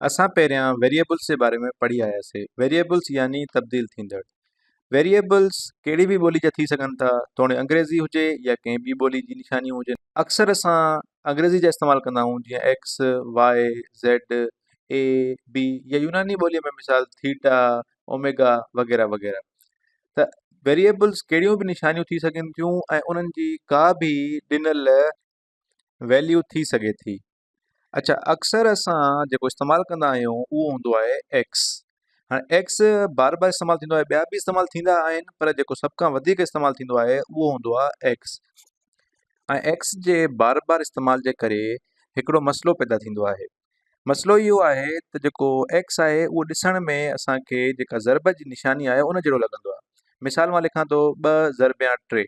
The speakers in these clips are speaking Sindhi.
اسان پهريان ويريئبلز جي باري ۾ پڙهي آياسي ويريئبلز يعني تبديل ٿيندڙ ويريئبلز ڪهڙي به ٻولي جا ٿي سگهن ٿا توڻي انگريزي هجي يا ڪنهن ٻي ٻولي جي نشانيون هجن اڪثر اسان انگريزي جا استعمال ڪندا آهيون جيئن X Y Z A B يا يوناني ٻولي ۾ مثال ٿيٽا اوميگا وغيره وغيره ته ويريئبلز ڪهڙيون به نشانيون ٿي سگهن ٿيون ۽ انهن جي ڪا به ڏنل ويليو ٿي سگهي ٿي اڇا اڪثر اسان جيڪو استعمال ڪندا آهيون اهو هوندو آهي ايڪس هاڻي ايڪس بار بار استعمال ٿيندو آهي ٻيا به استعمال ٿيندا آهن پر جيڪو سڀ کان وڌيڪ استعمال ٿيندو آهي اهو هوندو آهي ايڪس ۽ ايڪس جي بار بار استعمال جي ڪري هڪڙو مسئلو پيدا ٿيندو آهي مسئلو اهو آهي ته جيڪو ايڪس آهي اهو ڏسڻ ۾ اسان کي جيڪا ضرب جي نشاني آهي ان جهڙو لڳندو آهي مثال مان لکان ٿو ٻه ضرب يا ٽي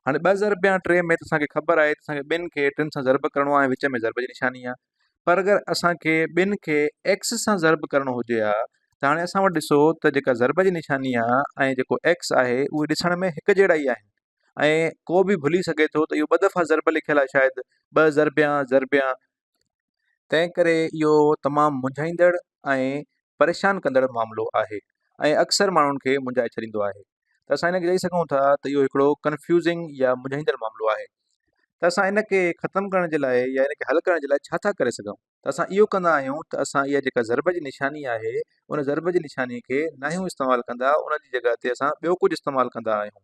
هاڻي ٻه ضرب يا ٽي ۾ اسان کي خبر آهي اسان کي ٻن کي ٽن سان ضرب ڪرڻو آهي وچ ۾ ضرب جي نشاني آهي پر اگر اسان کي ٻن کي ايڪس سان ضرب ڪرڻو هجي ها ته هاڻي اسان وٽ ڏسو ته جيڪا ضرب جي نشاني آهي ۽ جيڪو ايڪس آهي اهي ڏسڻ ۾ هڪ جهڙا ئي آهن ۽ ڪو بي ڀلي سگهي ٿو ته اهو ٻه دفعا ضرب لکيل آهي شايد ٻه ضرب يا ضرب يا تنهن ڪري اهو تمام منجهائيندڙ ۽ پريشان ڪندڙ معاملو آهي ۽ اڪثر ماڻهن کي منجهائي ڇڏيندو آهي ته اسان ان کي چئي سگهون ٿا ته اهو هڪڙو ڪنفيوزنگ يا منجهائيندڙ معاملو آهي ته اسان ان کي ختم ڪرڻ جي لاء يا ان کي حل ڪرڻ جي لاء ڇا ٿا ڪري سگهون ته اسان اهو ڪندا آهيون ته اسان اها جيڪا ضرب جي نشاني آهي ان ضرب جي نشاني کي ناهيون استعمال ڪندا ان جي جڳهه تي اسان ٻيو ڪجهه استعمال ڪندا آهيون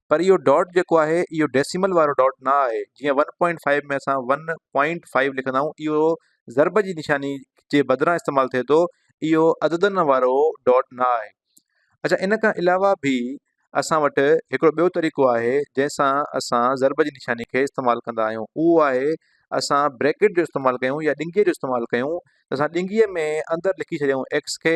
پر اهو ڊاٽ جيڪو آهي اهو ڊيسيمل وارو ڊاٽ نه آهي جيئن ون پوائنٽ فائيو ۾ اسان ون پوائنٽ فائيو لکندا آهيون اهو ضرب جي نشاني جي بدران استعمال ٿئي ٿو اهو عددن وارو ڊاٽ نه آهي اچا ان کان علاوه به اسان وٽ هڪڙو ٻيو طريقو آهي جنهن سان اسان ضرب جي نشاني کي استعمال ڪندا آهيون اهو آهي اسان بريڪٽ جو استعمال ڪيون يا ڏنگيء جو استعمال ڪيون اسان ڏنگيء ۾ اندر لکي ڇڏيائون ايڪس کي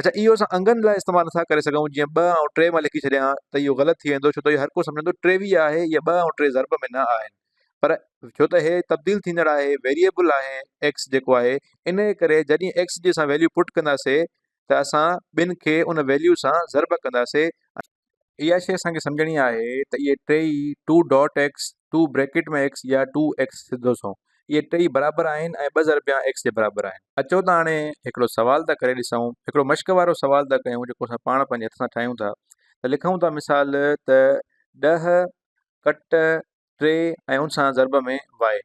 اچا اهو اسان انگن لاء استعمال نٿا ڪري سگهون جيئن ٻه ۽ ٽي مان لکي ڇڏيان ها ته اهو غلط ٿي ويندو ڇو ته اهو هر ڪو سمجهندو ٽيويهه آهي اهي ٻه ۽ ٽي ضرب ۾ نه آهن پر ڇو ته هي تبديل ٿيندڙ آهي ويريبل آهي ايڪس جيڪو آهي ان جي ڪري جڏهن ايڪس جي اسان ويليو پٽ ڪنداسي ته اسان ٻن کي ان ويليو سان ضرب ڪنداسي اها شيء اسان کي سمجهڻي آهي ته اهي ٽيئي two dot X, two bracket ۾ X يا ٽو ايڪس سڌو سنئون اهي ٽيئي برابر آهن ۽ ٻه ضربيان ايڪس جي برابر آهن. اچو ته هاڻي هڪڙو سوال ٿا ڪري ڏسون، هڪڙو مشق وارو سوال ٿا ڪيون جيڪو اسان پاڻ پنهنجي هٿ سان ٺاهيون ٿا ته لکون ٿا مثال ته ڏهه ڪٽ ٽي ۽ ان سان ضرب ۾ وائي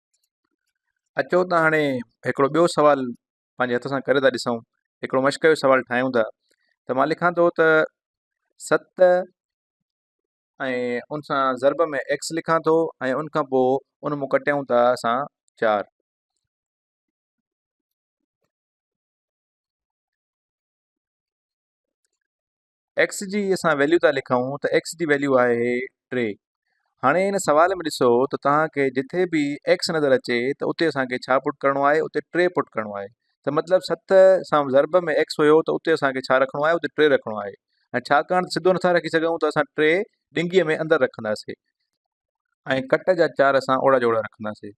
اچو ته هاڻي هڪڙو ٻيو سوال پنهنجي هٿ سان ڪري ٿا ڏسون هڪڙو مشق جو سوال ٺاهيون ٿا ته مان لکان ٿو ته ست ۽ ان سان ضرب ۾ ايڪس لکان ٿو ۽ ان کان پوء ان مون ڪٽيون ٿا اسان چار ايڪس جي اسان ويليو ٿا لکون ته ايڪس جي ويليو آهي ٽي هاڻي ان سوال ۾ ڏسو ته توهان کي جتي به ايڪس نظر اچي ته اتي اسان کي ڇا پٽ ڪرڻو آهي اتي ٽي پٽ ڪرڻو آهي ته مطلب ست سان ضرب ۾ ايڪس هيو ته اتي اسان کي ڇا رکڻو آهي اتي ٽي رکڻو آهي ۽ ڇاڪاڻ ته سڌو نٿا رکي سگهون ته اسان ٽي ڏنگي ۾ اندر رکنداسين ۽ ڪٽ جا چار سان اوڙا جوڙا رکنداسين.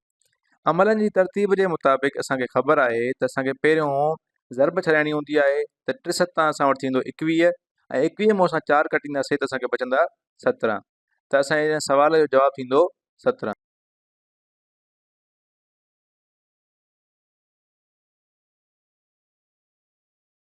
عملن جي ترتيب جي مطابق اسان کي خبر آهي ته اسان کي پهريون ضرب ڇڏائڻي هوندي آهي ته ٽي ستان اسان وٽ ٿيندو ايڪويهه ۽ ايڪويهه مان اسان چار ڪٽينداسين ته اسان کي بچندا سترهن ته اسان جي ان سوال جو جواب ٿيندو سترهن.